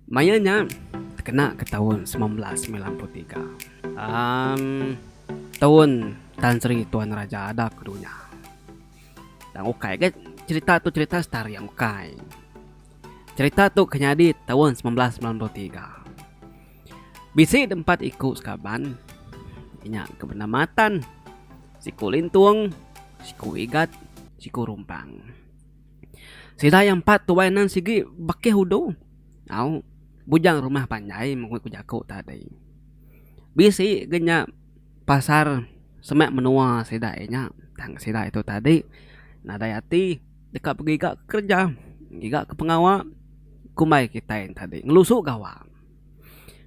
Maya nya tekena ke taun semilan belas semilan puluh tiga. Am taun Tan Sri Tuan Raja ada ke dunya. Tang ukai ga cherita tu cherita star yang ukai. Cherita tu ke nyadi taun semilan belas semilan puluh tiga. Bisi deh empat iku sekaban inya ke benama Tan, siku Lintung, siku Igat, siku Rumpang. Sida iya empat tuai nan sigi bekeh udu. Au, bujang rumah panjai mung ku jaku tadi. Bisi ga nya pasar semak menua sida iya nya. Tang sida itu tadi nadai ati deka begiga ke kereja, ngiga ke pengawa kumbai kitai ne tadi ngelusu gawa.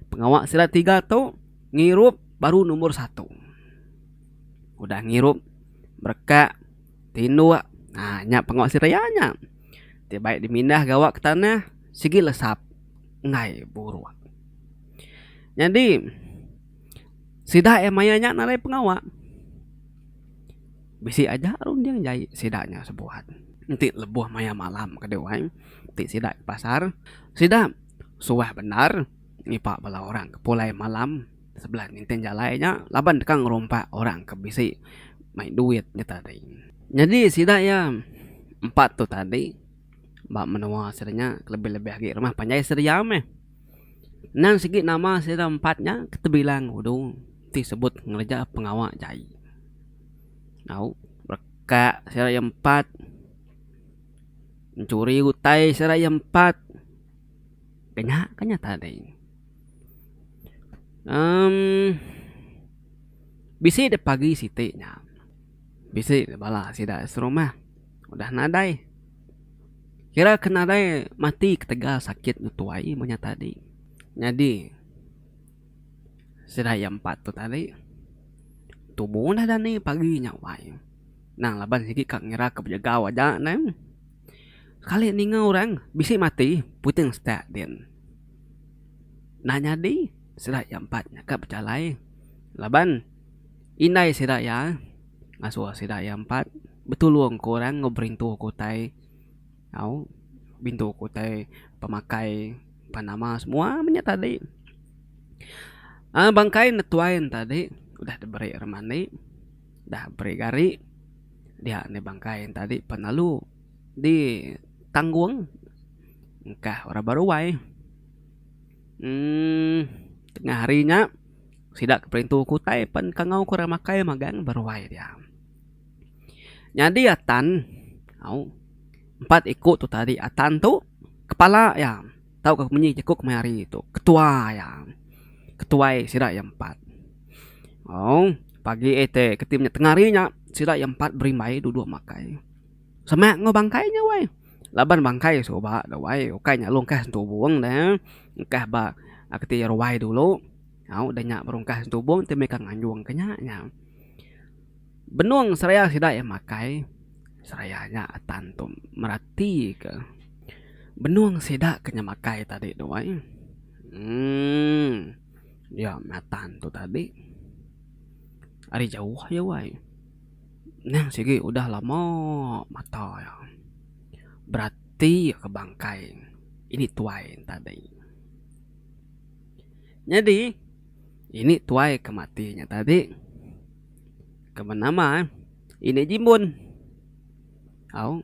Pengawa sida tiga tu ngirup baru nombor satu. Udah ngirup berekak. ti indu ak aa nya pengoh siraya nya ti baik di mindah gawa ke tanah sigi lesap enggai buruk nyadi sida yang maya nya narai pengawa bisi aja runding jai sida nya sebuat enti lebuh maya malam ke dau ai ti sida ke pasar sida suah bendar ngipa bala orang ke pulai malam Sebelah ninting jalai nya laban deka ngerompak orang ke bisi mai duit nya tadi. Nyadi sida iya empat tu tadi ba menua sida nya kelebih-lebih agi rumah panjai sida iya meh. Endang sigi nama sida empat nya ke tebilang udu ti sebut ngereja pengawa jai. Au rekak sida iya empat, enchuri utai sida iya empat. Kena ke nya tadi. Um bisi deh pagi siti nya. Bisi deh bala sida serumah udah nadai. Kira ke nadai mati ketegal sakit ne tuai meh nya tadi. Nyadi sida iya empat tu tadi tubo neh dani pagi nya wai. Nang laban sigi ka ngira ke bejegau aja neh. Kali ninga orang bisi mati puting setak din. Enda nyadi sida iya empat ka bejalai laban indai sida iya ngasuh sida iya empat betulung ke orang enggau berintu ke utai au berintu ke utai pemakai empa nama semua meh nya tadi. Bangkai netuai ne tadi udah diberi remin andi. Dah beri gari dia enda bangkai enta adi pan lalu di tanggung engkah orang ba ruai um tengah hari nya sida ke perintu ke utai pan kangau ke orang makai magang ba ruai dia. Nyadi atan au empat iku tu tadi atan tu kepala iya. Tau ka kemenyi jaku kemai hari tu. Ketua iya. Ketuai sida iya empat. Au, pagi eh te keti menya tengah hari nya sida iya empat berimbai duduk makai. Semak enggau bangkai nya wai. Laban bangkai suba dah wai. Ukai nya lalu engkah sentubung dah. Engkah ba keti ruai dulu. Au, dah nya baru engkah sentubung ti meh ka nganjung ke nya nya. Benung seraya sida iya makai seraya nya atan tu merati ke benung sida ke nya makai tadi tu ai emm dia meh atan tu tadi ari jauh aja wai neh sigi udah lama mata iya berati ke bangkai ini tuai tadi. Nyadi ini tuai ke mati nya tadi. Keman nama eh ini jimbun au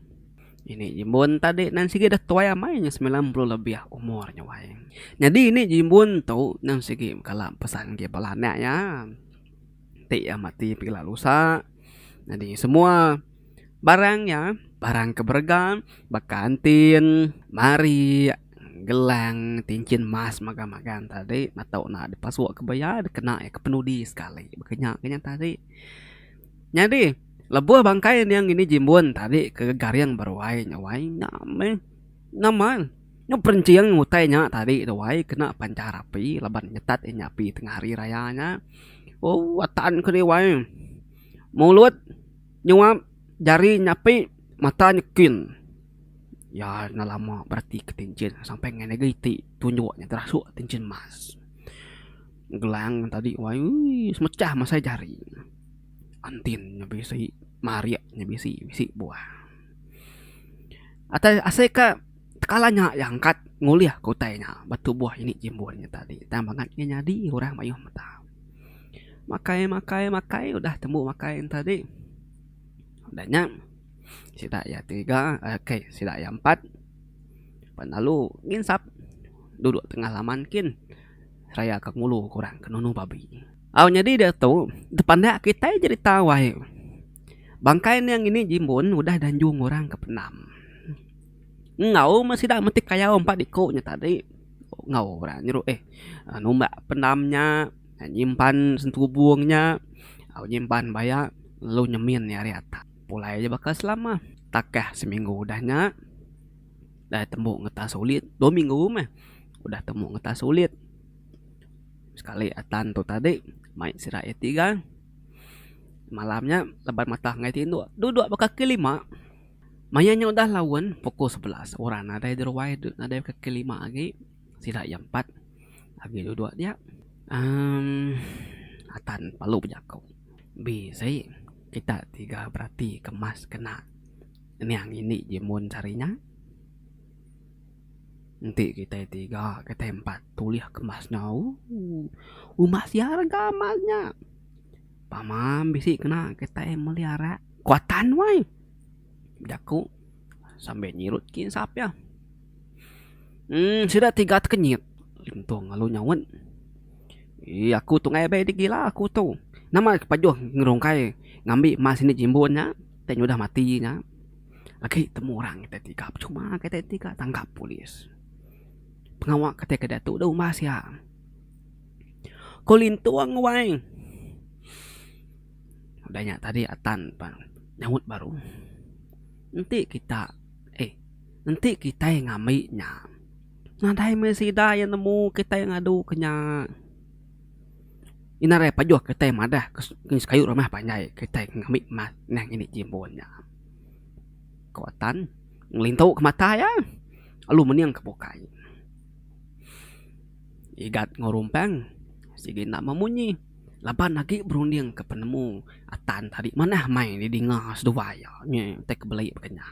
ini jimbun tadi nan sigi dah tuai amai nya semilan puluh lebih umur nya wai nyadi ini jimbun tu nan sigi kala pesan ke bala anak iya ti iya mati pila lusa nyadi semua barang iya barang ke berega baka entin marik. Gelang ti enchin mas magang-magang tadi mata unak dipasuk ke beya dikena iya ke penudi sekali baka nya ke nya tadi. Nyadi lebuh bangkai nya ngini jimbun tadi ke garing ba ruai nya wai nya meh nama nya perinching utai nya tadi tu wai kena panchar api laban nyetat inya api tengah hari raya nya. Ooh atan kedi wai mulut nyuap jari nyapi mata nyekin. Iya enda lama beratika ti enchin sampai ngagai negeri ti tunjuk nya terasuk ti enchin mas. Gelang tadi wai uii semecah masai jari. Entin nya bisi marik nya bisi bisi buah. Atai asai ka tekala nya iya angkat ngulih ka utai nya ba tu buah ini timbul nya tadi tang bangat nya nyadi orang mayuh meta. Makai makai makai udah tembu makai nya tadi udah nya. Sida iya tiga kai sida iya empat pan lalu nginsap duduk tengah laman kin seraya ka ngulu ke orang ke nunu babi. Au nyadi diatu tepandak kitai jerita wai bangkai nya ngini jimbun udah da njung orang ke pendam enggau meh sida metik kayau empat iku nya tadi enggau orang nyeru eh numbak pendam nya nyimpan sentubung nya au nyimpan baya lu nyemin iya ari atak. Pulai aja baka selama. Takah seminggu udah nya. Dai tembu ngetah sulit. Dua minggu meh udah tembu ngetah sulit. Sekali atan tu tadi mai sida iya tiga. Malam nya leban matah enggai tindu. Duduk ba kaki lima. Maya nya udah laun pukul sebelas. Orang nadai di ruai nadai ba kaki lima agi. Sida iya empat agi duduk dia. Amm Atan palu bejaku. Bisi kita tiga berati ke mas kena niang ini ji mun sehari nya. Enti kitai tiga kitai empat tulih ke mas nya ooh uma sia rega mas nya. Pama bisi kena kitai meli arak ku Atan wai. Bejaku sambil nyirut kinsap iya. Emm sida ti gat kenyit lintung lalu nyaut. Eee aku tu ngagai abai digila aku tu. Nama ke pajuh ngerungkai ngambi emas indi jimbun nya tei nyudah mati nya. Agi temu orang kita ti gat percuma kita ti gat tangkap polis. Pengawa kita ke diatu deh umbah sia. Ko lintung wai. Udah nya tadi atan pang nyaut baru. Enti kita eih. Enti kitai ngambi nya, nadai meh sida iya nemu kitai ngadu ke nya. Ina alai pajuh kitai madah ke sekayu rumah panjai kitai ngambi emas neh ngini timbul nya. Ko Tan ngelintu ke mata iya lalu mening ke bukai. Igat enggau Rumpang sigi enda memunyi laban agi berunding ke penemu Tan tadi manah mai didinga seduai iya. Nya utai ke beli baka nya.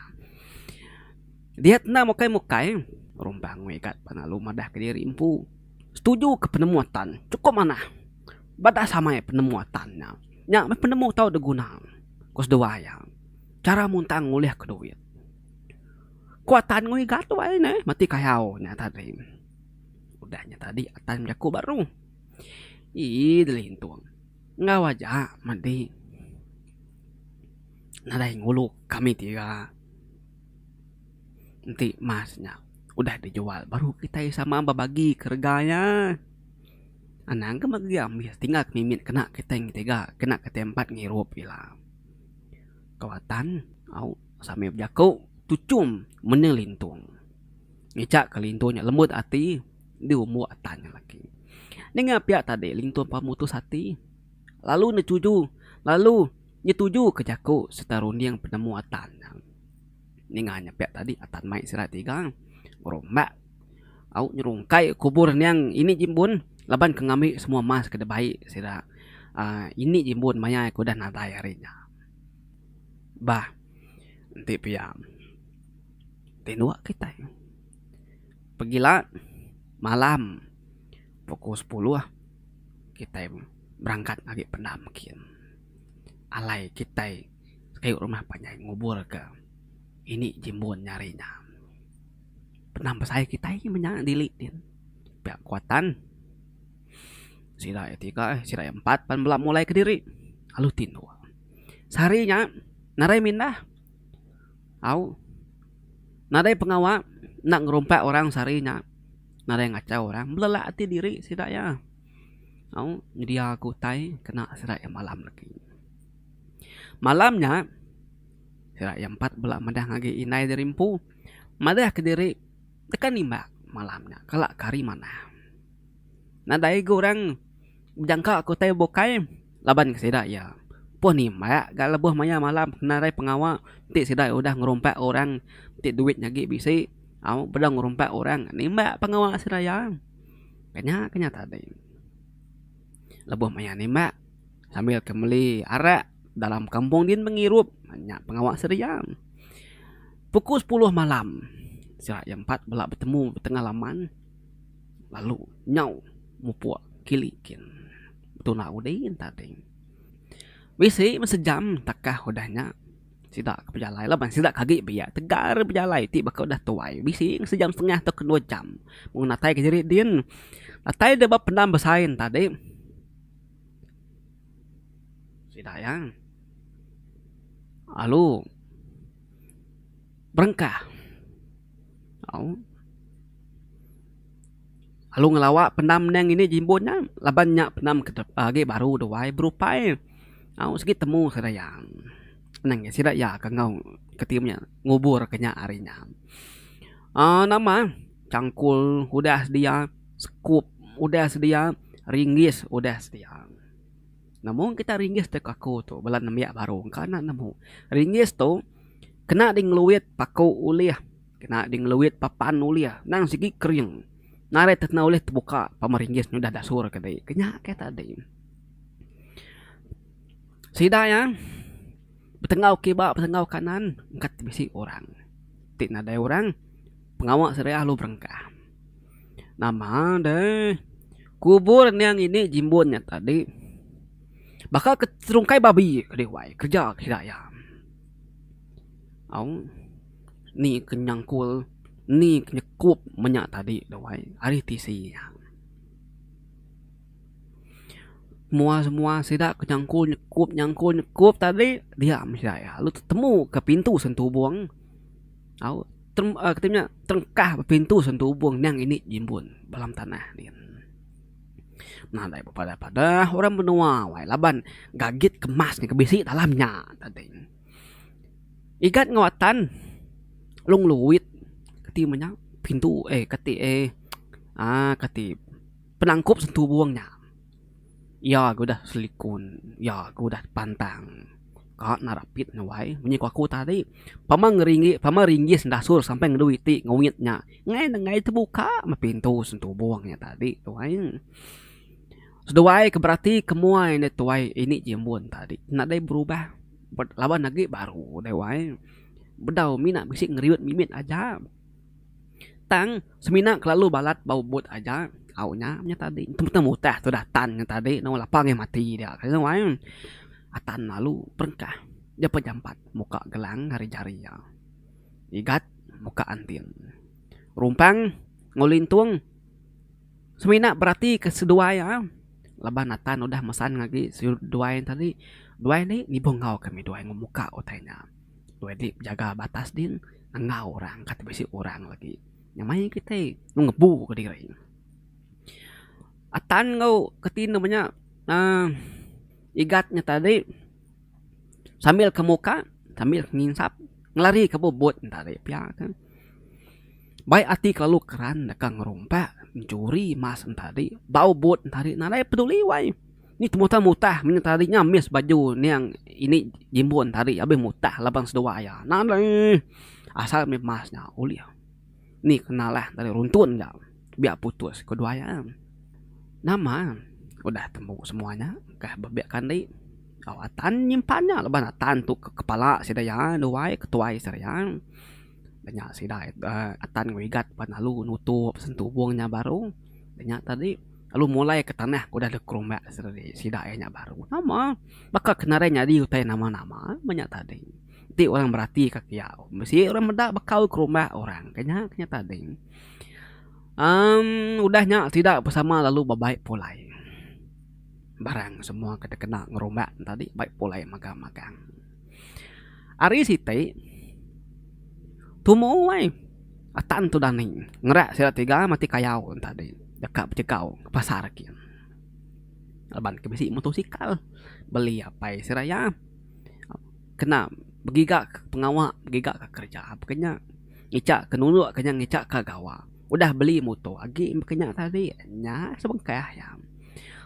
Dia tenda mukai-mukai, Rumbang Megat belalu madah ke diri empu setuju ke penemu Tan cukup manah bada samai penemu Tan nya. Nya meh penemu tau diguna ku seduwa iya. Chara muntang ngulih ke duit. Ku Tan Ngui Gatoi ai neh meti kayau nya tadi. Udah nya tadi Tan bejaku ba rung. Ii delintung enggau aja madi. nadai ngulu kami ti ira enti emas nya udah dijual baru kitai sama bebagi ke rega nya anang ke mega iya mih tinggal mimit kena kitai ngi tiga kena kitai empat ngirup ila kawatan au sambel bejaku tuchum mende lintung ngejak ke lintung nya lembut ati di umbu atan nya lagi ninga pia tadi lintung pemputus ati. lalu netuju lalu nyetujuka jaku sereta runding penemu Atan. Ninga nya pia tadi Atan mai sida tiga berumbak au nyerungkai kubur endang ini Jimbun laban ke ngambi semua emas ke dibai sida aaa ini Jimbun maya ke udah nadai hari nya. Bah enti pia ti dua kitai pegila malam. Pukul sepuluh kitai berangkat agi pendam kin. Alai kitai kayu rumah panjai ngubur ke ini jimbun nya hari nya. Pendam besai kitai nya menya dili din pia kuatan sida iya tiga eh sida iya empat pan bela mulai kediri lalu ti dua. Sehari nya nadai mindah au nadai pengawa enda ngerumpak orang sehari nya. nadai ngachau orang belelak ati diri sida iya au nyedia ke utai kena sida iya malam agi malam nya sida iya empat bela madang agi indai diri empu madah kediri tekan imbak malam nya kala ke hari manah nadai ga orang. Bejangka ke utai bukai laban ke sida iya empuh nimbak ga lebuh maya malam kena ari pengawa ti sida udah ngerumpak orang ti duit nya agi bisi au beda ngerumpak orang nimbak pengawa sida iya ke nya ke nya tadi lebuh maya nimbak sambil ke meli arak dalam kampung din pengirup nya pengawa sida iya. Pukul sepuluh malam sida iya empat bela betemu tengah laman. Lalu nyau mupuk kili kin betuna udi entading. Bisi meh sejam takah udah nya sida ke pejalai laban sida ke agi biak tegar bejalai ti baka udah tuai bisi meh sejam setengah tauka dua jam mung natai ke diri din. Datai deh ba pendam besai entadi sida iya lalu. Berengkah. Au. Lalu ngelawa pendam nya ngini jimbun nya laban nya pendam ke agi baru tu ai berupai au sigi temu sida iya. Anang iya sida iya ke enggau keti nya ngubur ke nya hari nya. Aaa nama changkul udah sedia, sekup udah sedia, ringgis udah sedia. Nemu kita ringgis dek aku tu bela nembiak baru engka enda nemu. Ringgis tu kena di ngeluit paku ulih kena di ngeluit papan ulih nang sigi kering narit ti kena ulih tebuka pama ringgis nyudah dasur ke dei ke nya ke tadi. Sida iya betenggau kiba betenggau kanan engkat bisi orang ti nadai orang. Pengawa Seri Alu Perengkah. Nama deh. Kubur nya ngini jimbun nya tadi. Baka ke serungkai babi ke di wai. Kereja ke sida iya. Au. Ni ke nyangkul. Ni ke nyekup menya tadi di wai. Ari tisi iya. Semua semua sida ke nyangkul nyekup nyangkul nyekup tadi. Dia meh sida iya. Lalu tetemu ke pintu sentubong. Au. kata nya terengkah bepintu sendu ubung nyang ini jimbun ba alam tanah nih. Nadai bepadah padah orang menua wai laban gagit kemas ke bisi dalam nya tading. Igat enggau atan Long Luit ti meh nya pintu eh kati eh aaa kati penangkup sentu ubung nya. Iya ke udah selikun, iya ke udah pantang. Ka nerapit ne wai. Munyi ku aku tadi, pama ngeringi, pama ringgis enda asur sampai ngedu iti nguit nya, ngai ne ngai tebuka meh pintu sentubong nya tadi tu ai. Seduai ke berati ke muai enda tuai indi ji ambun tadi nadai berubah laban agi baru deh wai. Bedau mina bisi ngeriut mimit aja. Tang, semina kelalu balat ba ubut aja au nya meh tadi. Tang mutah tudah tan nya tadi nang wang lapang meh mati dia kena wai. Atan lalu perengkah dep jampat muka gelang ari jari iya. Igat muka anting. Rumpang enggau lintung semina berati ke seduai iya laban atan udah mesan agi seduai tadi. Duai nih nibu enggau kami duai enggau muka utai nya. Tu agi bejaga batas din enggau orang kati bisi orang lagi nya mayuh kitai nemu ngebu ka diri atan enggau kati ne manya uhh igat nya tadi sambil ke muka sambil ke nginsap ngelari ke bubut nya tadi pia ke baik ati kelalu keran deka ngerumpa njuri emas nya tadi ba ubut nya tadi nadai peduli wai. Ni temutan mutah menya tadi nya miss baju niang ini jimbun tadi abih mutah laban seduwa iya. Nang alai asal mih mas nya ulih ni kenalah tadi runtun ga biak putus kedua iya. Nama udah tembu semua nya kah bebek kandi au atan nyimpan nya laban atan tu ke kepala sida iya duai ketuai sida iya. Nya sida atan ngewigat pan alu nutup sentubung nya baru nya tadi. lalu mulai ke tanah ke udah dikerumbak sida iya nya baru nama baka ke nadai nyadi utai nama-nama meh nya tadi ti orang berati ka kiya mesi orang meda bekau kerumbak orang ke nya ke nya tadi amm udah nya sida bersama lalu bebai pulai barang semua ke dikena ngerumbak tadi bai pulai megang-megang. Ari siti, tumu ai atan tudah ni ngera sida tiga matik kayau nya tadi deka bejegau ke pasar agi. Laban ke bisi motosikal beli apai sida iya kena begiga ke pengawa begiga ke kereja ke nya ngica ke nunu ke nya ngica ke gawa. Udah beli muto agi ke nya tadi nya sebengkah iya.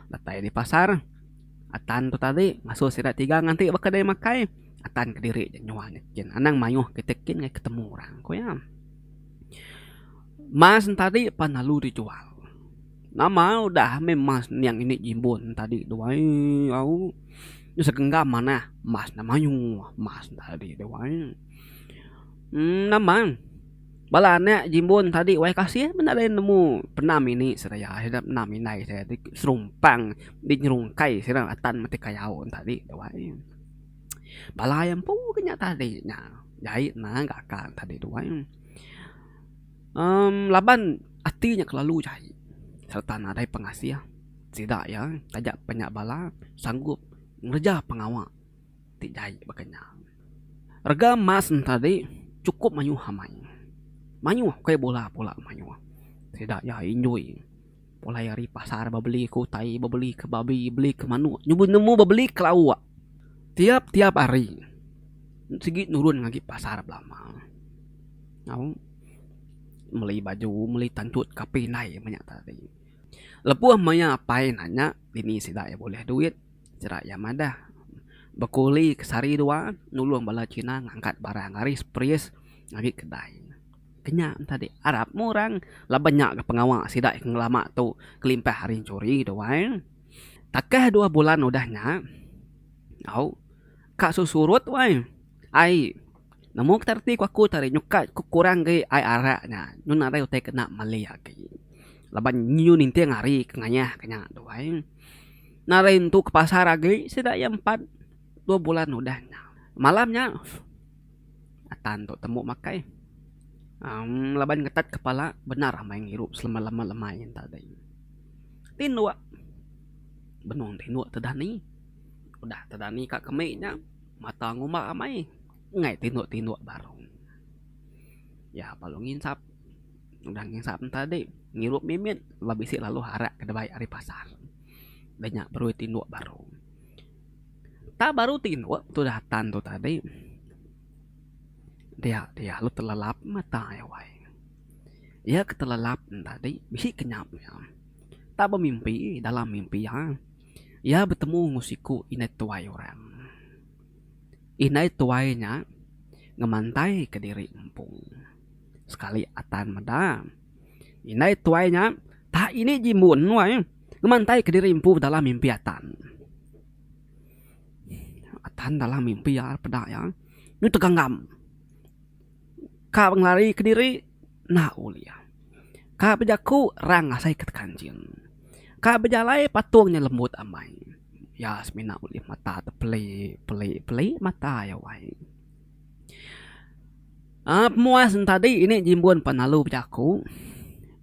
Datai ari pasar. Atan tu tadi ngasuh sida tiga nganti ba kedai makai, Atan kediri ja nyual nya kin. Anang mayuh kitai kin ngagai ketemu orang, ku iya. Mas ne tadi pan lalu dijual. Nama udah meh mas niang ini jimbun ne tadi tu ai au. Nya segenggam manah mas ne mayuh mas ne tadi tu ai. Nama. Bala anak jimbun tadi wayah kasih menda deh nemu penam ini seraya sida penam indai seraya ti serumpang ti nyerungkai sida atan mati kayau tadi tu ai. Bala iya empu ke nya tadi nya jai nang gaga ne tadi tu ai. Amm laban ati nya kelalu jai sereta nadai pengasih sida iya taja panya bala sanggup ngereja pengawa. ti jai baka nya. Rega emas enta di chukup mayuh amai. Mayuh ukai bola pula mayuh. Sida iya enjoy pulai ari pasar bebeli ke utai bebeli ke babi beli ke manuk nyugon nemu bebeli ke lauk tiap tiap hari sigi nurun ngagai pasar belama tau meli baju meli tanchut kape indai manya tadi. Lebuh maya apai nanya bini sida iya bulih duit. Jerak iya madah, Bekuli ke sehari dua nulung bala China ngangkat barang ari Spries ngagai kedai. Kenya entah dih arap mu orang laban nya ga pengawa sida ke ngelama tu kelimpah ari enchuri tuai. Takah dua bulan udah nya, au, ka sesurut tuai. Ai. Nemu kita reti ku aku tadi nyuka ku kurang gei ai arak nya nyun nadai utai kena meli agi laban nyu ninting hari ke ngayah ke nya tu ai. Nya ari ntu ke pasar agi sida iya empat dua bulan udah nya. Malam nya atan tu temu makai amm laban ngetat kepala bendar amai ngirup selema lema lema nyen tadi. Tinduk benung tinduk te dani udah te dani ka kemi nya. Mata ngumba amai enggai tinduk-tinduk barung. Iya balu nginsap. Udah nginsap nya tadi, ngirup mimit lalu bisi lalu arak ke dabai ari pasar. Udah nya baru tinduk barung. Tang baru tinduk tudah tan tu tadi, dia dia lalu telelap mata iya wai. Iya ketelelap nya tadi bisi kenyap iya. Tang bemimpi dalam mimpi iya. Iya betemu enggau siku indai tuai orang. Indai tuai nya ngemantaika diri empung. Sekali Atan meda, indai tuai nya tahi indi jimbun wai ngemantaika diri empu dalam mimpi Atan. Atan dalam mimpi iya peda iya nyu teganggam. Ka ngelari ke diri enda ulih. Ka bejaku rang asai ke tekanjing. Ka bejalai patung nya lembut amai. Iya semina ulih mata te peli peli peli mata iya wai. Aaa pemuas ne tadi ini jimbun pan lalu bejaku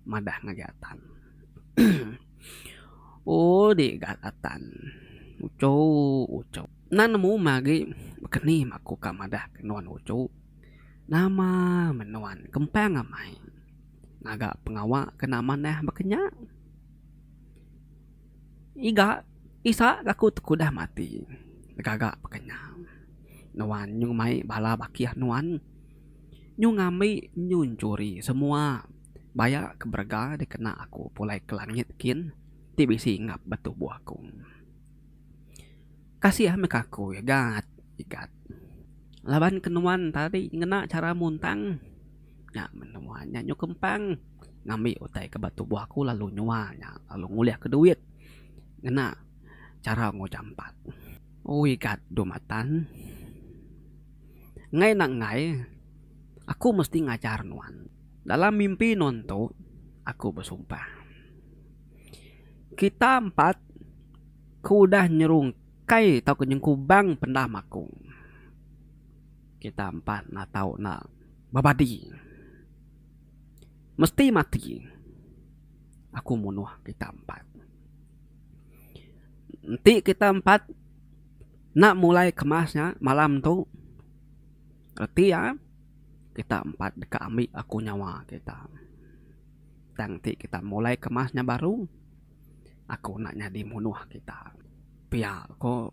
madah ngagai atan uhh di ga atan uchu uchu. Nan nemu meh agi baka ni maku ka madah ke nuan uchu. Nama men nuan kempang amai ngaga pengawa ke enda manah baka nya? Iga isa ke aku tekudah mati begaga baka nya. Nuan nyung mai bala bakih nuan nyung ngambi nyung nyuri semua baya ke berega dikena aku pulai ke langit kin ti bisi ngap ba tubuh aku. Kasih meh ka aku igat igat laban ke nuan tadi ngena chara muntang nya meh nuan nya nyu kempang ngambi utai ke ba tubuh aku lalu nyua nya lalu ngulih ke duit ngena chara ngo jampat oh igat dua mata enggai nak enggai aku mesti ngajar nuan dalam mimpi nuan tu aku besumpah kita empat. ke udah nyerungkai tauka nyengkubang pendah makung. Kita empa enda tau enda bebadi. Mesti mati aku munuh kita empat. Enti kita empat enda mulai kemas nya malam tu reti iya kita empat deka ambi aku nyawa kita. Tang enti kita mulai kemas nya baru. Aku enda nyadi munuh kita. Pia ko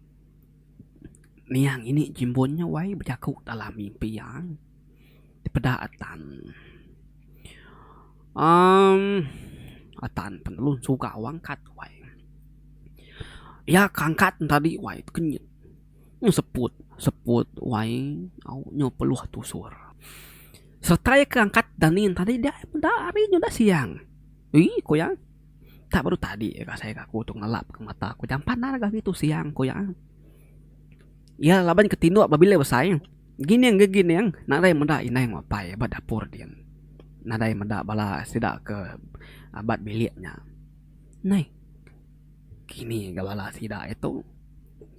niang ini jimbun nya wai bejaku dalam mimpi iya dipeda Atan. Amm Atan pen lalu suga wang angkat wai. Iya ke angkat tadi wai tekenyit nyu seput seput wai au nyu peluh tusur. Sereta iya ke angkat dani tadi deh meda hari nyu deh siang. Ii ko iya. Ka baru tadi ka asai ka aku tu ngelap ka mata aku jampat nang ga ngitu siang ku iya. Iya laban ke tinduk bebila besai gining ga gining nadai meda indai enggau apai ba dapur din. Nadai meda bala sida ke abat bilik nya. Neh kini ga bala sida aja tu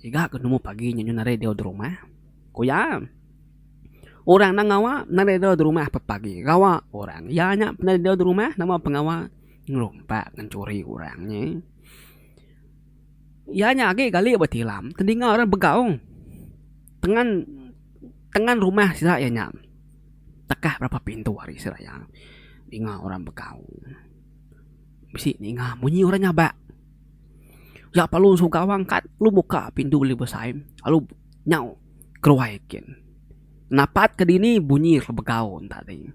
iga ke numbu pagi nyenun nadai dau di rumah ku iya. Orang nang ngawa nadai dau di rumah pepagi gawa orang iya nya nadai dau di rumah nama pengawa. ngelumpat ngenchuri orang nya iya nya agi kali betilam tedinga orang begaung tengan tengan rumah sida iya nya tekah berapa pintu ari sida iya denga orang begaung bisi ninga munyi orang nyabak yak perlu suka wang kat lu buka pintu lu besai lu nyau keruai kin napat ke dini bunyi begaung tadi.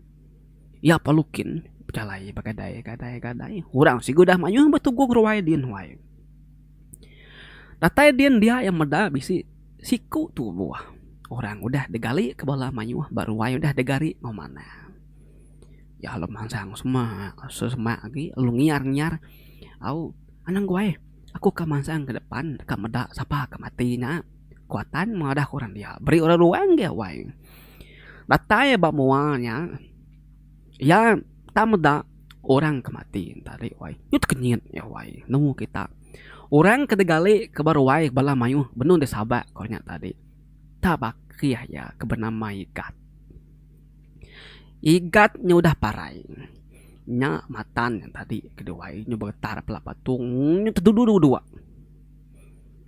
Iya perlu kin bejalai begadai gadai gadai orang sigu udah mayuh betuguh ruai din ruai. Datai din dia iya meda bisi siku tubuh orang udah digali ke bala mayuh ba ruai udah digari enggau manah. Iya lalu mansang semak semak agi lalu ngiar ngiar au anang guai aku ka mansang ke depan ka meda sapa ke mati nya. Kuatan madaku orang dia beri orang ruai nggih awai. Datai ba mua nya iya enda meda orang ke mati enta ri wai. Nya tekenyit nya wai nemu kita. Orang ke digali ke ba ruai bala mayuh benung deh sabak ko nya tadi. Enta ba keh iya ke benama Igat. Igat nya udah parai nya matan nya tadi ke diwai nya beretar pala patung nya tedudu dua.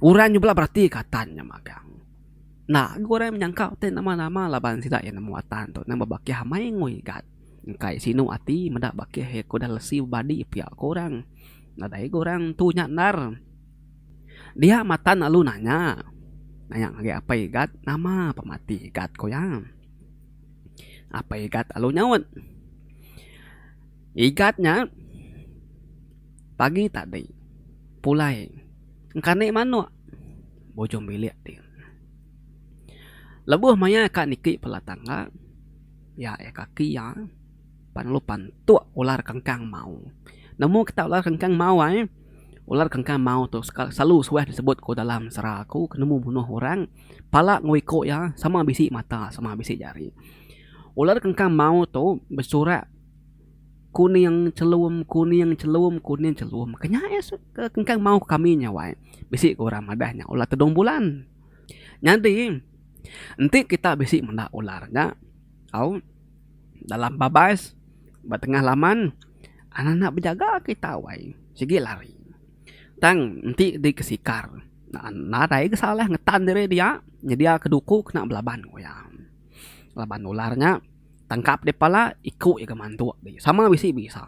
Orang nyebela berati ke atan nya magang. Enda ga orang menyangka ti nama-nama laban sida iya nemu atan tu nang bebakih amai ngui gat. Engkai sinu ati meda bakih iya ke udah lesi bebadi pia ku orang. Nadai ga orang tu nya endar. Dia matan lalu nanya nanya ngagai apai Igat nama pemati Igat ku iya. Apai Igat lalu nyaut, Igat nya pagi tadi pulai engkani manuk. bujung bilik ti. Lebuh maya ka niki pala tangga ya iya kaki iya pan lalu pantuk ular kengkang mau. Nemu kita ular kengkang mau ai ular kengkang mau tu selalu suah disebut ku dalam sera aku ke nemu bunuh orang pala enggau iko iya sama bisi mata sama bisi jari. Ular kengkang mau tu besurak. Kuning chelum, kuning chelum, kuning chelum. Ke nya iya suka engkan maoh kami nya wai. Bisi ke orang madah nya ular tedong bulan. Nyadi enti kita bisi menda ular nya au dalam babas ba tengah laman ana enda bejaga kita wai sigi lari. Tang enti di kesikar nadai ke salah ngetan diri dia nyedia ke duku kena belaban ku iya. Laban ular nya tangkap di pala iku iya ga mantuk di sama bisi bisa.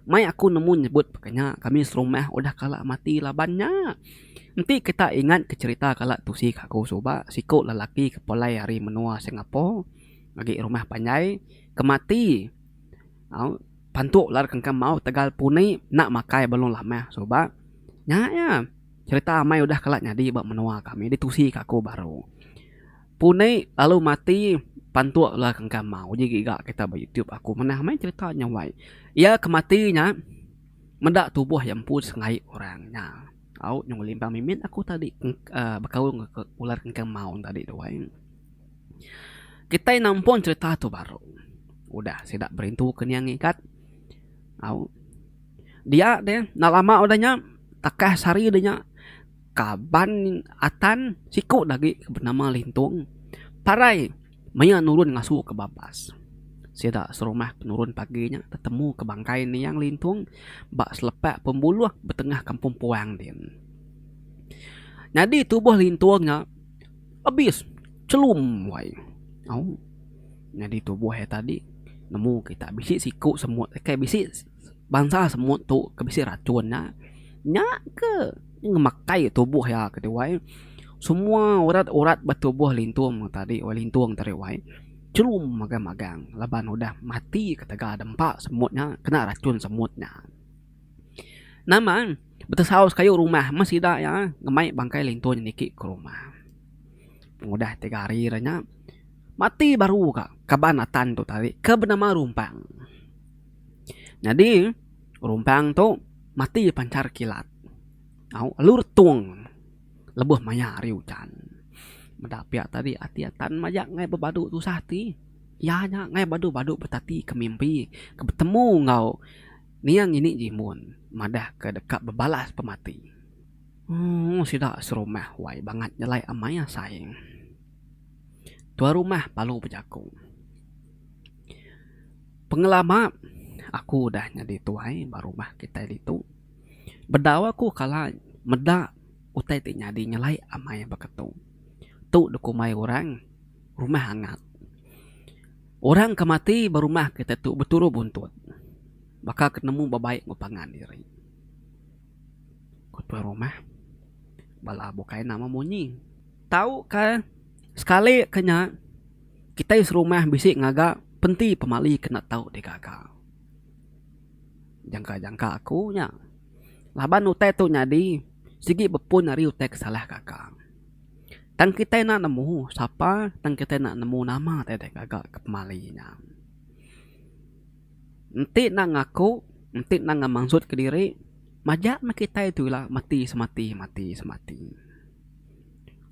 Mai aku nemu nyebut paka nya kami serumah udah kala mati laban nya. Enti kita ingat ke cherita kala tusi kaku suba siku lelaki ke pulai ari menua Singapore agi rumah panjai ke mati au pantuk ular kangkang maut tegal puni enda makai belon lama suba nya iya cherita amai udah kala nyadi ba menua kami di tusi kaku baru. Puni lalu mati pantuk lalu ke engka mau uji giga kita ba youtube aku manah meh cerita nya wai iya ke mati nya meda tubuh iya empu sengaie orang nya au nyau ngelimbang mimit aku tadi uhh bekaul ke ular ke engka mau tadi tu wai kitai nampun cerita tu baru udah sida berintu ke nia ngigat au dia deh enda lama udah nya takas hari de nya. Kaban Atan siku agi ke benama Lintung parai maya nurun ngasu ke Babas. Sida serumah ke nurun pagi nya tetemu ke bangkai Niang Lintung ba selepak pembuluh betengah Kampung Puang din. Nyadi tubuh Lintung nya abis chelum wai. Au nyadi tubuh iya tadi nemu kita bisi siku semut kai bisi. Bansa semut tu ke bisi racun nya, nya ke ngemakai tubuh iya ke tuai. Semua urat urat ba tubuh lintung tadi wai lintung tadi wai chum magang magang laban udah mati ketegal dep empa semut nya kena racun semut nya. Nama betesau sekayu rumah meh sida iya ngemai bangkai lintung niki ke rumah. Pengudah tiga hari re nya mati baru ka kaban atan tu tadi ke benama Rumpang. Nyadi rumpang tu mati pancar kilat au lalu retung lebuh maya hari ujan. Meda pia tadi ati atan maja ngai bebadu tusah ati iya nya ngai badu badu betati ke mimpi ke betemu enggau nia ngini jimun madah ke deka bebalas pemati. Ooh sida serumah wai bangat nyelai amai asai. Tuan rumah palu bejaku. Pengelama aku udah nyadi tuai ba rumah kitai ditu. Bedau aku kala meda utai ti nyadi nyelai amai baka tu. Tu dikumbai orang rumah angat. Orang ke mati ba rumah kitai tu beturuh buntut. Baka ke nemu ba bai enggau pangan diri. Ku tuan rumah bala bukai nama munyi. Tauka sekali ke nya kitai serumah bisi ngaga penti pemali kena tau digaga. Jangka-jangka aku nya laban utai tu nyadi sigi bepun ari utai ke salah gaga. Tang kitai enda nemu sapa tang kitai enda nemu nama tai digaga ke pemali nya. Enti enda ngaku enti enda ngemansut kediri majak meh kitai tu ila mati semati mati semati.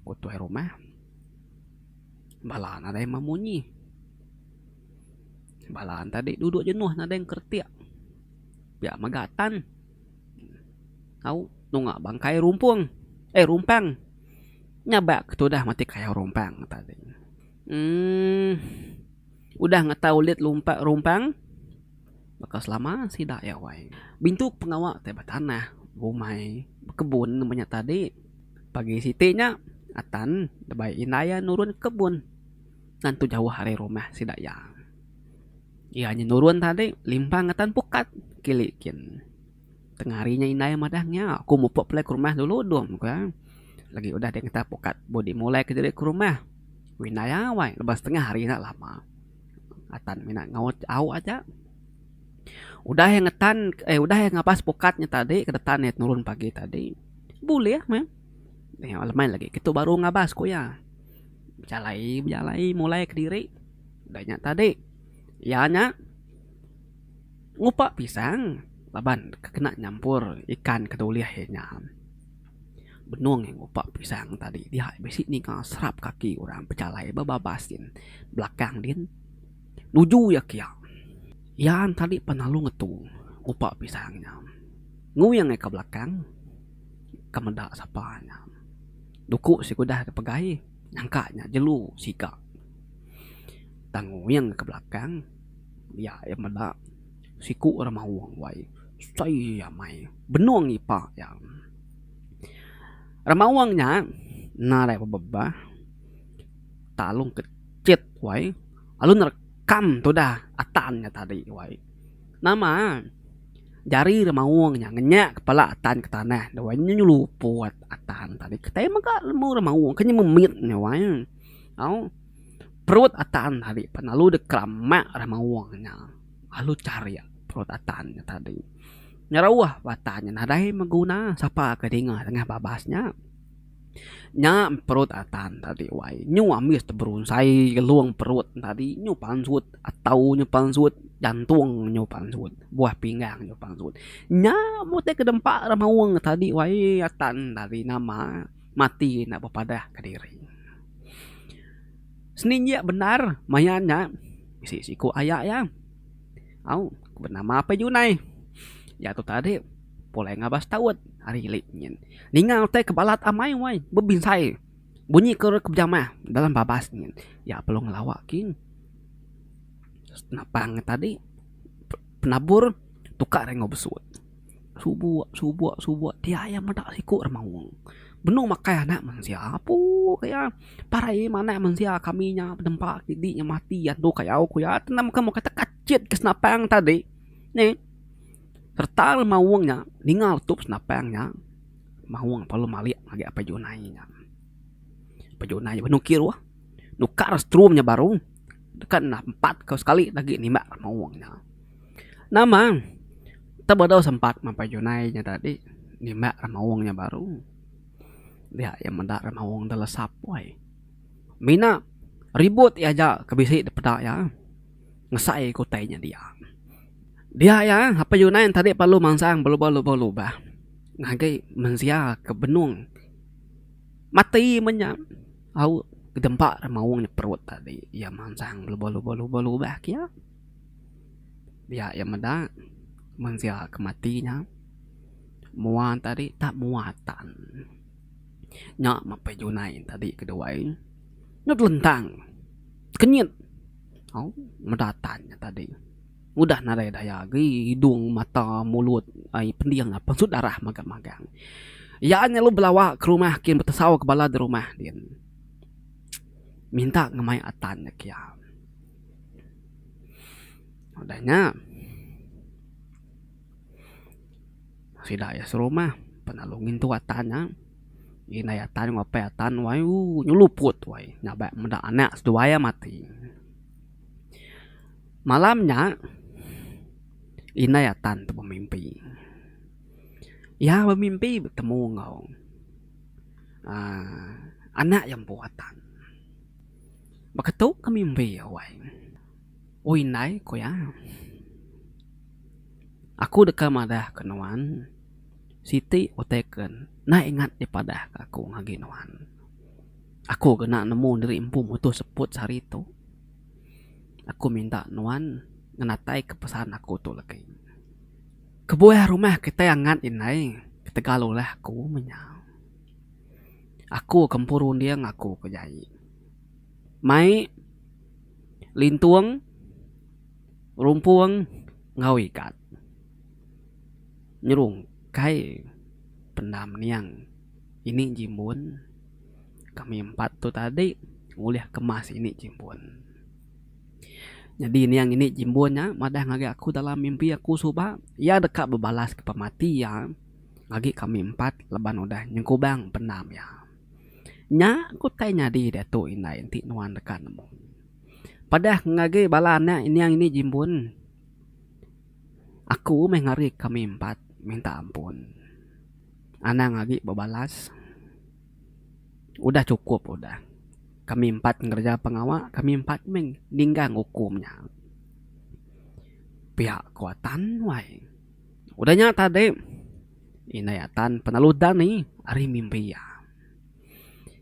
Utuh rumah bala nadai memunyi. Bala tadi duduk jenuh nadai ngeretik. Pia mega tan au nunga bangkai rumpung eh rumpang nya ba ke tudah mati kayau rumpang tadi. Emm udah ngetau lit rumpang. Baka selama sida iya wai. Bintu pengawa ti betanah, bumai, bekebun nembu nya tadi. Pagi siti nya Atan ndebei indai iya nurun ke kebun tantu jauh ari rumah sida iya. Iya nyenurun tadi limpang Atan pukat kili kin. Tengah hari nya indai madah nya, aku mupuk pulai ke rumah dulu dum ku iya. Lagi udah dia ngetap ukat body mulai ke diri ke rumah. Ku indai awai lebuh setengah hari enda lama. Atan mina ngaut au aja. Udah iya ngetan eh udah iya ngabas pukat nya tadi ke detan iya tenurun pagi tadi, bulih meh. Nya lemai lagi kitu baru ngabas ku iya. Bejalai bejalai mulai ke diri. Udah nya tadi iya nya. ngupa pisang laban kena nyampur ikan ke dah ulih iya nya. Benung iya ngupa pisang tadi dia bisi ninga serap kaki orang bejalai bebabas din belakang din nuju iya kiya. Iya tadi pan lalu ngetu ngupa pisang nya. Ngui angai ka belakang ka meda sapa nya. Duku sigudah dep pegai nyangka nya jelu siga tang ngui angai ka belakang. Iya iya meda siku ra maoh wai sai iya mai benong ipa iya. Ra maoh nya nadai bebah talung kecit wai lalu nerekam tudah atan nya tadi wai nama jari ra maoh nya ngenyak kepala atan ke tanah wai nya nyeluput atan tadi kitai mega lemu ra maoh ke memit nya wai au. Perut atan tadi pan lalu deh keramak dah mauh nya lalu charik perut atan nya tadi nyeruh bah atan nya nadai beguna sapa ke dinga dengah babas nya. Nya perut atan tadi wai nyu ambis deh berunsai ngelung perut nya tadi nyu pansut atau nyu pansut jantung nyu pansut buah pinggang nyu pansut nya meh utai ke dempa dah mauh tadi wai atan tadi nama. mati enda bepadah ke diri. Seni injia bendar maya nya bisi siku aya iya au benama apai junai iya tu tadi pulai ngabas taut ari ili nyin ninga utai ke balat amai wai bebinsai bunyi ke bejamah dalam babas nyin iya perlu ngelawa king senapang tadi penabur tukar enggau besut. Subuk subuk subuk ti ai iya meda siku ra maong. Benung makai anak mensia apu ke iya parai iya manah mensia kami nya benempa sidi nya mati andu ka au ku iya tu nang bukan mung kata kecit ke senapang tadi ne serta le maong nya ninga utup senapang nya maong empa lu malik ngagai apai junai nya. Apai junai nya benung kiruh nukar setrum nya baru tekan empat ka sekali agi nimbak maong nya. Nama tebedau sempat mapai junai nya tadi nimbak ra maung nya baru dia iya meda ra maung da lasap wai mina ribut iya aja ke bisi da peda iya ngesai ku utai nya dia. Dia iya mapai junai nya tadi perlu mansang belubah lubah lubah ngagai mensia ke benung mati meh nya au ke dempa ra maung nya perut tadi iya mansang belubah lubah lubah lubah ke iya. Pia iya meda mensia ke mati nya mua ne tadi tak mua tan nya mapai junai ne tadi ke duai nyut lentang kenyit au meda tan nya tadi udah nadai daya agi hidung mata mulut ai pending apai ensut darah magang magang iya nya lalu belawa ke rumah kin betesau ke bala di rumah din minta ngemai a tan nya kian. Udah nya sida iya serumah pengalu ngintu atan nya indai atan ngopai atan wai ooh nyeluput wai ngabai meda anak seduai iya mati. Malam nya indai atan tu bemimpi iya bemimpi betemu enggau aaa anak iya empu atan. Baka tu ke mimbi awai. Oi indai, ku iya. Aku deka madahka nuan siti utai ke enda ingat dipadahka aku ngagai nuan. Aku kena nemu diri empu mutuh seput sehari tu. Aku minta nuan ngenataika pesan aku tu legi. Kebuah rumah kitai angat indai ketegal ulah aku menya. Aku ke empu runding aku ke jai. mai lintung rumpung enggau ikat nyerung kai pendam niang ini ji mun kami empat tu tadi ulih kemas ini ji mun nyadi niang ini ji mun nya madah ngagai aku dalam mimpi aku suba iya deka bebalas ke pemati iya ngagai kami empat laban udah nyengkubang pendam iya. Nya ku utai nyadi diatu indai enti nuan deka nemu. Padah ngagi bala anak inyang indi jimbun, aku meh ngari kami empat minta ampun. Anang agi bebalas, udah chukup udah. Kami empat ngereja pengawa, kami empat meh ninggang ukum nya. Pia ku Atan wai. Udah nya tadi, indai iya tan penelu dani ari mimbi iya.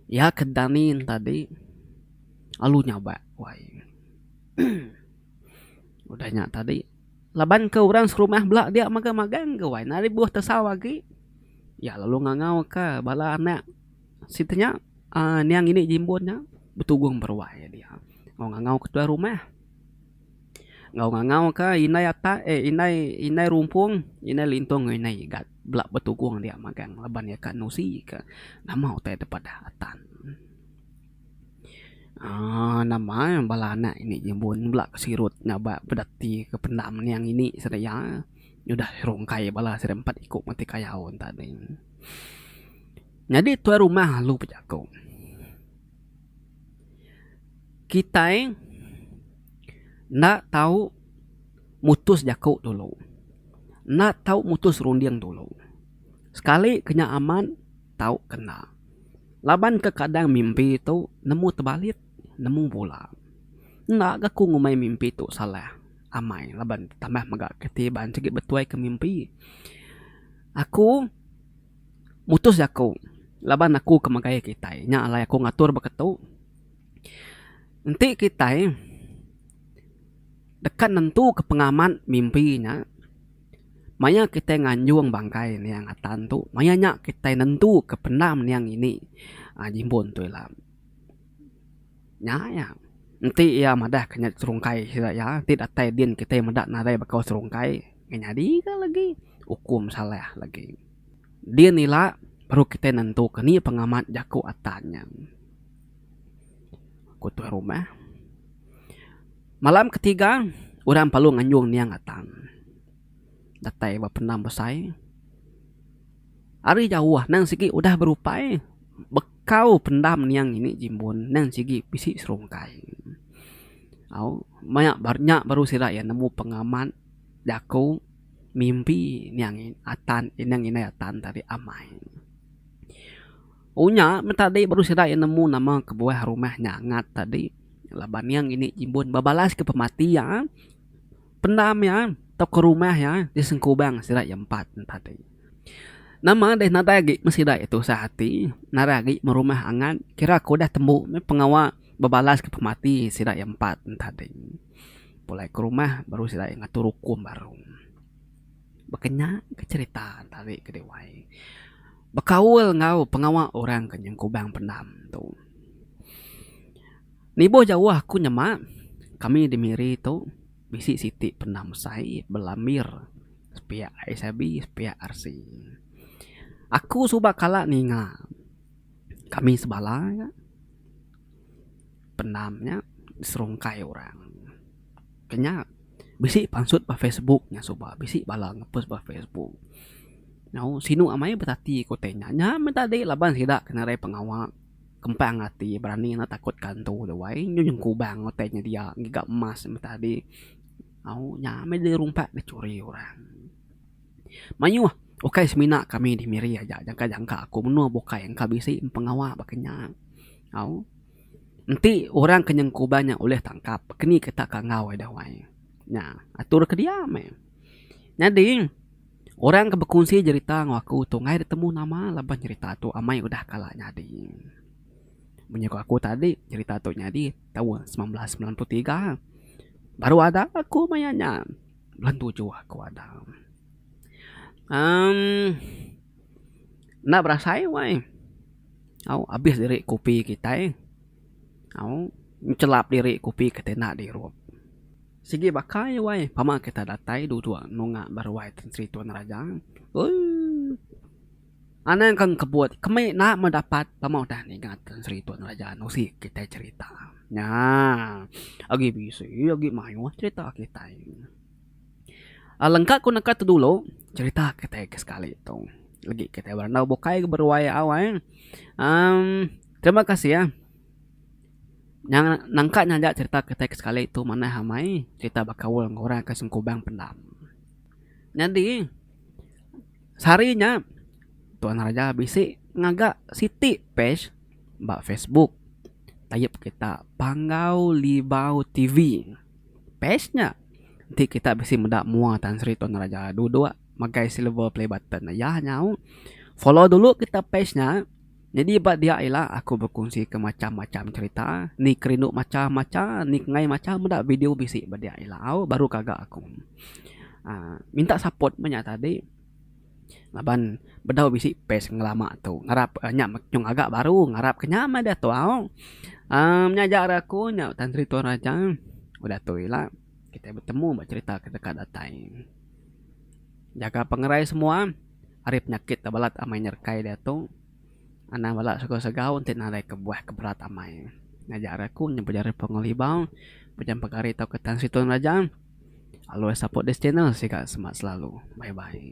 Iya ke dani tadi lalu nyabak wai. Udah nya tadi, laban ke orang serumah bela dia mega magang ga wai. Ari buh tesau agi, iya lalu ngangauka bala anak siti nya uhh niang ini jimbun nya betugung beruai dia. Lalu ngangau ketua rumah. Enggau ngangau ka indai atak eh indai indai rumpung indai lintong enggau indai igat bela betugung dia magang laban iya ka nusi ka nama utai da padah atan aaa nama bala anak ini nyebut bela ke sirut ngaba peda ti ke pendam niang ini sida iya udah rungkai bala sida empat iku mati kayau enta ding. Nyadi tuai rumah alu bejaku. Kitai enda tau mutus jaku dulu. Enda tau mutus runding dulu. Sekali ke nya amat, tau ke enda. Laban kekadang mimpi tu nemu tebalit, nemu bula. Enda ga ku ngumbai mimpi tu salah. Amai laban tambah mega ke ti iban sigi betuai ke mimpi. Aku. Mutus jaku laban aku ke megai kitai nya alai aku ngatur beketu enti kitai deka nentuka pengamat mimpi nya maya kitai nganjung bangkai niang atan tu maya nya kitai nentuka pendam niang ini jimbun tu ila. Nya iya enti iya madah ke nya serungkai sida iya enti datai din kitai meda nadai bekau serungkai. Nyadi ga lagi ukum salah lagi. Din ila baru kitai nentuka ni pengamat jaku atan nya. Ku tuai rumah. Malam ketiga orang parlu nganjung niang atan. Datai ba pendam besai. Ari jauh nang sigi udah berupai bekau pendam niang ini jimbun nang sigi bisi serungkai. Au maya nya baru sida iya nemu pengamat. Jaku mimpi nya atan inang indai atan tadi amai. Unya meh tadi baru sida iya nemu nama kebuah rumah nyangat tadi laban iya ngini jimbun bebalas ke pemati iya pendam iya tauka rumah iya di sengkubang sida iya empat ne tadi. Nama deh nadai agi meh sida iya tusah ati nadai agi meh rumah angat kira ku udah tembu meh pengawa bebalas ke pemati sida iya empat ne tadi. pulai ke rumah baru sida ngatur ukum baru. Baka nya ke cherita tadi ke diwai bekaul enggau pengawa orang ke nyeng kubang pendam tu. Nibuh jauh aku nyema kami di miri tu bisi siti pendam besai bala mir sepiak SIB sepiak RC. Aku suba kala ninga kami sebala nya Penam nya diserungkai orang. Kenya bisi pansut ba Facebook nya suba bisi bala ngepost ba Facebook. Nyau sinu amai betati ku utai nya. Nya meh tadi laban sida ke ngarai pengawa kempang ati berani enda takut kantu duai nyu nyeng kubang utai nya dia ngiga emas meh tadi. Au nya meh dirumpak dicuri orang. Mayuh ukai semina kami di Miri aja jangka jangka aku menua bukai engka bisi pengawa baka nya. Au enti orang ke nyengku uban nya ulih tangkap keni ke tak ka enggau ida wai nya atur ke dia meh. Nyadi orang ke bekunsi jerita enggau aku tu ngai betemu nama lebuh jerita tu amai udah kala nyadi. Munyi ku aku tadi jerita tu nyadi taun semilan belas semilan puluh tiga baru ada aku maya nya. Belantu jua aku Adam. Um enda berasai wai. Au abis diri kopi kitai. Au ngelap diri kopi kitai enda dirup. Sigi baka iya wai pama kitai datai duduk nunga beruai Tan Sri Tuan Raja. Ooh. Anang ke engkebut kemi enda meh dapat tama udah ninga Tun Sri Tun Raja nusi kitai cherita nya. Agi bisi agi mayuh cherita kitai. Alengka ku neka tu dulu cherita kitai ke sekali tu legi kitai berandau bukai ke beruai awai emm terima kasih ah nangka nyaga cherita kitai ke sekali tu manah amai cherita bekaul enggau orang ke sengkubang pendam. Nyadi. Sehari nya, Tuan Raja bisi ngaga siti pej ba Facebook tayup kita Panggau Libau TV. Pej nya enti kita bisi meda mua Tan Sri Tuan Raja duduk magai silver play button iya nyau. Follow dulu kita pej nya. Nyadi ba dia ila aku bekunsika macham-macham cherita, ni kerindu macha macha, ni kengai macha meda video bisi ba dia ila au baru kaga aku uhh minta support meh nya tadi laban bedau bisi page ngelama tu ngarap nya nyung aga baru ngarap ke nya meh diatu au uhh nya aja ari aku nya Tan Sri Tuan Raja udah tu ila kitai betemu ba cherita ke deka datai. Jaga pengerai semua. ari penyakit da balat amai nyerekai diatu, anang bala segau-segau enti nadai kebuah ke berat amai. Ngajar aku nyau pejari Pungoh Libau, Pejam Pegari tauka Tan Sri Tun Raja. Always support this channel siga semak selalu. Bye bye.